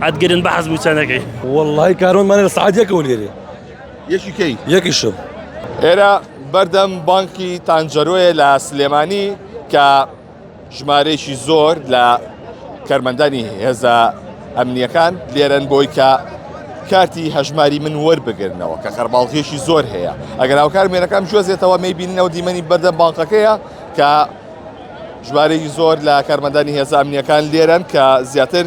ئەت گرن بە حەز بوچەنەکەی وەڵی کارۆن مانە لە سعات یەکەوە لێرێ یەکی کەی یەکیشم ئێرە بەردەم بانکی تانجەرۆیە لە سلێمانی کە ژمارەیەکی زۆر لە کەرمەندانی هێزە ئەمنیەکان لێرەن بۆی کە کارتی هەژماری من وەربگرنەوە کە خەرباڵغیشی زۆر هەیە ئەگەر هاوکار مێنەکەم جۆزێتەوە می بیننەوە دیمەنی بەردەم بانقەکەیە کە ژمارەی زۆر لە کارمەدانی هێزانامنیەکان لێرەن کە زیاتر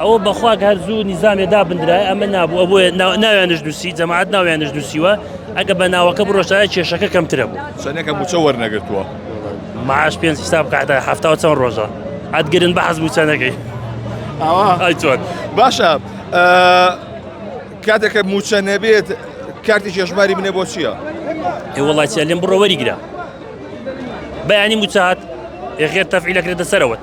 ئەوە بەخوا کە هەر زوو نیزامێ دابندرای ئەمە نابوو ئەبووە ناویانش نووسی جەماعات ناویانش نووسیوە ئەگە بە ناوەکە بڕۆشتایە کێشەکە کەمترە بوو سەنەکە موچە وەرنەگرتووە معاش پێنج حساب کاتە هەفتا چەند ڕۆژە ئەتگرن بە حەز بوو چەندەکەی ئەوە باشە کاتێکە موچە نەبێت کارتی چێژماری منێ بۆ چییە؟ ئێ وڵاتیە لێم بڕۆ وەریگرە بەیانی موچات ئێخێر تەفعیلەکرێتە سەرەوەت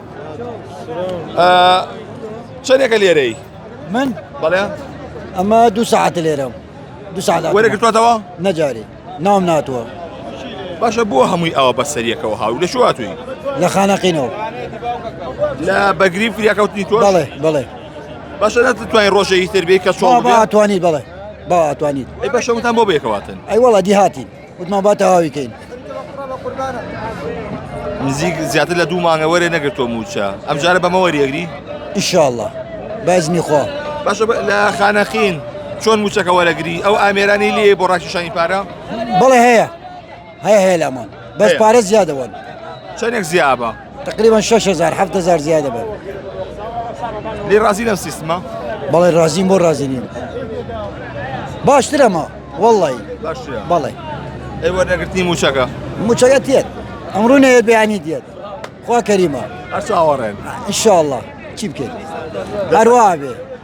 چەندێکە لێرەی من بەڵێ ئەمە دوو ساعت لێرەم دوو ساعت وەرەگرتوەتەوە نەجاری ناوم ناتوە باشە بۆ هەمووی ئەوە بە سەریەکەەوە هاو لە شواتوی لە خانەقینەوە لە بەگری فریاکەوتنی تۆ بڵێ بڵێ باشە نەتوانین ڕۆژەی تربی کە سۆڵ باتوانیت بڵێ باواتوانیت ئەی بەشەوتان بۆ بێکەواتن ئەی وڵا دیهاتین وتمان با تەواوی کەین. نزیک زیاتر لە دوو مانگە وەرێ نەگرتۆ موچە ئەمجارە بەمە وەریەگری ئیشاءاللە بەزمی خوا باشە لە خانەخین چۆن موچەکە وەرەگری ئەو ئامێرانی لێ بۆ ڕاکیشانی پارە بەڵێ هەیە هەیە هەیە لامان بەس پارە زیادەوەن چەندێک زیابە تقریبا شش هزار هەفت هزار زیادە بێت لێ ڕازی لەم سیستمە بەڵێ ڕازیم بۆ ڕازی نیم باشترەمە وەڵی باشترە بەڵێ ئەی وەرنەگرتنی موچەکە موچەکە تێت ئەمڕوو نەیە بیانی دێت خوا کەریمە هەر چاوەڕێن ان شاء الله چی بکەین هەروە بێ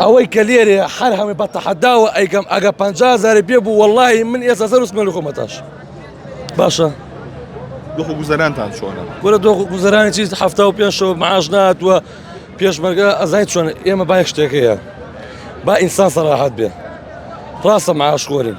ئەوەی کە لێرێ هەر هەمووی بە تەحەداوە ئەیکەم ئەگە پ هزار پێ بوو وەڵی من ئێستا سەر وسمە لە خۆمەتاش باشە دۆخ گوزەرانتان چۆنە وەرە دۆخ گوزەرانی چی هەفتا و پێشەوە معاش ناتوە پێشمەرگە ئەزای چۆن ئێمە بای شتێکەیە با ئینسان سەراحەت بێ ڕاستە معاش خۆرین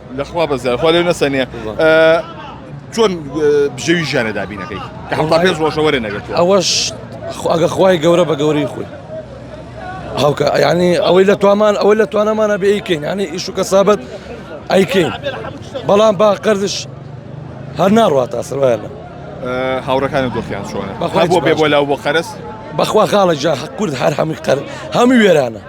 لەخوا بەزیار خوا لێو نەسەنێ چۆن بژێوی ژیانە دابینەکەی کە هەڵدا پێ ڕۆژە وەرە نەگەێت ئەوەش ئەگە خوای گەورە بە گەورەی خۆی هەڵکە ینی ئەوەی لە توامان ئەوەی لە توانەمانە بێیکەین ینی ئیش و کەسابەت ئەیکەین بەڵام با قەرزش هەر ناڕات تا سروایانە هاوڕەکانی دۆخیان چۆنە بەخوا بۆ بێ بۆ لاو بۆ قەرس بەخوا خاڵە جا کورد هەر هەمووی قەر هەمووی وێرانە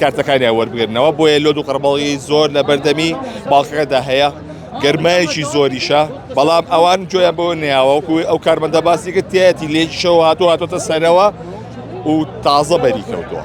کارتەکانیان وەربگرنەوە بۆیە لۆد و قەربەڵی زۆر لە بەردەمی باڵخەکەدا هەیە گەرمایەکی زۆریشە بەڵام ئەوان جۆیان بۆ نیاوەکوی ئەو کارمەندە باسی کرد تێتی لێکیشەوە هاتو هاتۆتە سەرەوە و تازە بەری کەوتووە.